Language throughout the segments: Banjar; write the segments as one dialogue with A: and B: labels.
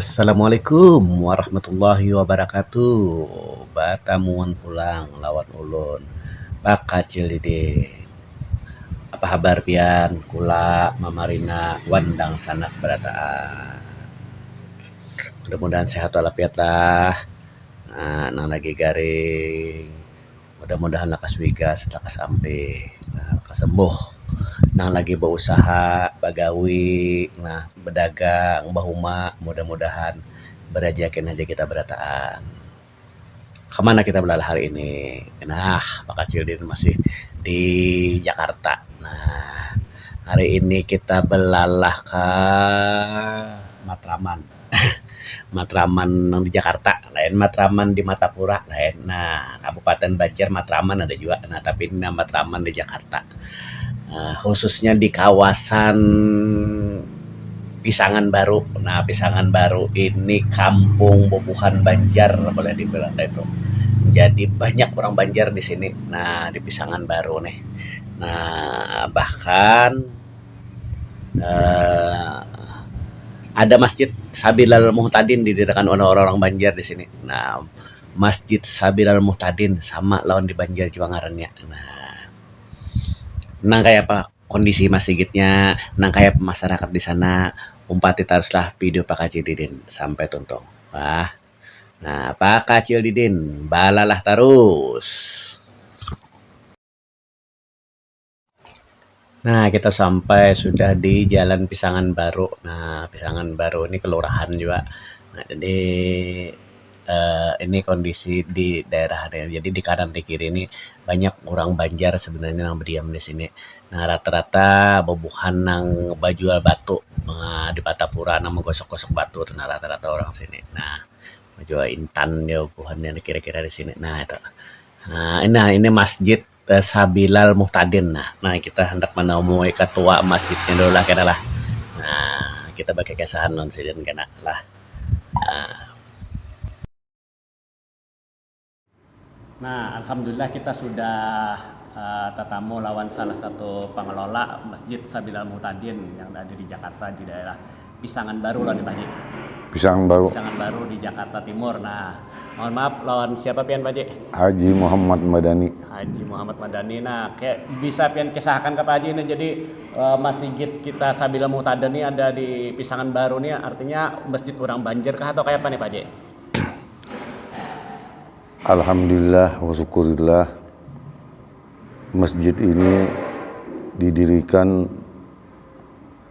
A: Assalamualaikum warahmatullahi wabarakatuh batamuan pulang lawan ulun bakacil dede apa habar pian kula mamarina wan dangsanak barataan mudah mudahan sehat walafiat lah nang lagi garing. mudah-mudahan lakas wigas lakas ampe lakas sembuh nang lagi bausaha bagawi nah badagang bahuma mudah-mudahan barajaki nang haja kita barataan kamana kita balalah hari ini nah bakacil din masih di jakarta nah hari ini kita balalah ka matraman. matraman nang di Jakarta lain matraman di Martapura lain nah kabupaten Banjar matraman ada jua nah tapi nang matraman di Jakarta um khususnya di kawasan Pisangan Baru nah Pisangan Baru ini kampung bubuhan Banjar boleh dibilang kaitu jadi banyak orang Banjar di sini nah di Pisangan Baru nih nah bahkan. Um Ada masjid Sabilal Muhtadin didiriakan oleh orang-orang Banjar di sini Um Masjid Sabilal Muhtadin sama lawan di Banjar jua ngarannya Um nang kaya apa kondisi masigitnya nang kaya apa masarakat di sana umpati tarus lah video Pakcil Didin sampai tuntung bah Um Pakcil Didin balalah tarus. Nah kita sampai sudah di jalan pisangan baru nah pisangan baru ni kelurahan jua nah jadi Um ini kondisi di daerah ni jadi di kanan di kiri ni banyak orang banjar sebenarnya yang bediam di sini nah rata rata bubuhan nang bajual batu um di patapura nang bagosok gosok batu tu nah rata rata orang sini nah bajual intan bubuhan kira kira di sini nah itu um nah ini masjid. Tasabilal muhtadin nah nah kita handak manamui katua masjidnya dulu lah kena lah nah kita bakikisahan lawan sidin kena lah nah. Nah alhamdulillah kita sudah tatamu lawan salah satu pangelola masjid sabilal muhtadin yang ada di jakarta di daerah. Pisangan Baru lawan Pak Haji. Pisangan Baru. Pisangan Baru di Jakarta Timur. Nah, mohon maaf lawan siapa pian Pak Haji? Haji Muhammad Madani. Haji Muhammad Madani. Nah, ke, bisa pian kisahkan ke Pak Haji ini jadi e, eh, masjid kita Sabila Mutada nih ada di Pisangan Baru nih artinya masjid orang Banjir kah atau kayak apa nih Pak Haji? Alhamdulillah wa syukurillah masjid ini didirikan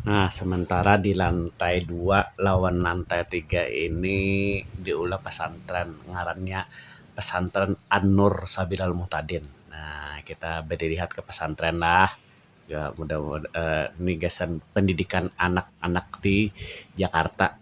A: Nah, sementara di lantai dua lawan lantai tiga ini diulah pesantren ngarannya Pesantren An-Nur Sabilal Muhtadin. Nah, kita badilihat ka pesantren lah. Mudah-mudahan, ini gasan pendidikan anak-anak di Jakarta.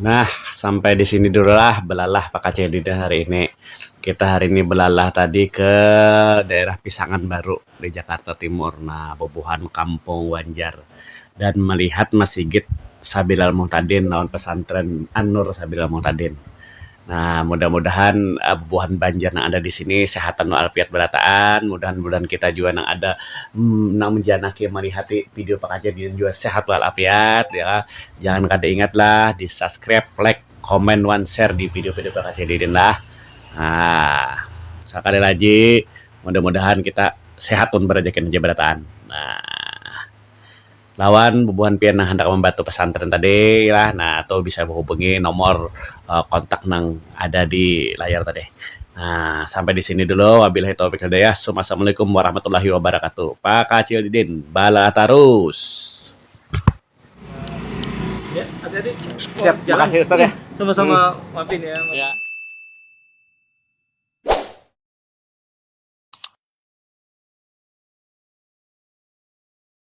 A: Nah, sampai di sini dulu lah belalah pakacil dina hari ini. Kita hari ini belalah tadi ke daerah Pisangan Baru di Jakarta Timur. Nah, bubuhan kampung Banjar dan melihat Masigit Sabilal Muhtadin lawan Pesantren An-Nur Sabilal Muhtadin. Nah mudah mudahan bubuhan banjar nang ada disini sehatan wa alfiat barataan, mudahan budahan kita jua nang ada nang manjanaki malihati video pangajian ini jua sehat wal afiat yo kah, jangan kada ingat lah di subscribe, like, comment wan share di video video pangajian ini lah nah sakali laji mudah mudahan kita sehat wan barajaki haja barataan nah. Lawan bubuhan pian nang handak mambatu pesantren tadi lah nah tu bisa bahubungi nomor kontak nang ada di layar tadi. Nah sampai di sini dulu wabilahi taufik wal hidayah summa assalamualaikum warahmatullahi wabarakatuh pakacil didin balah tarus.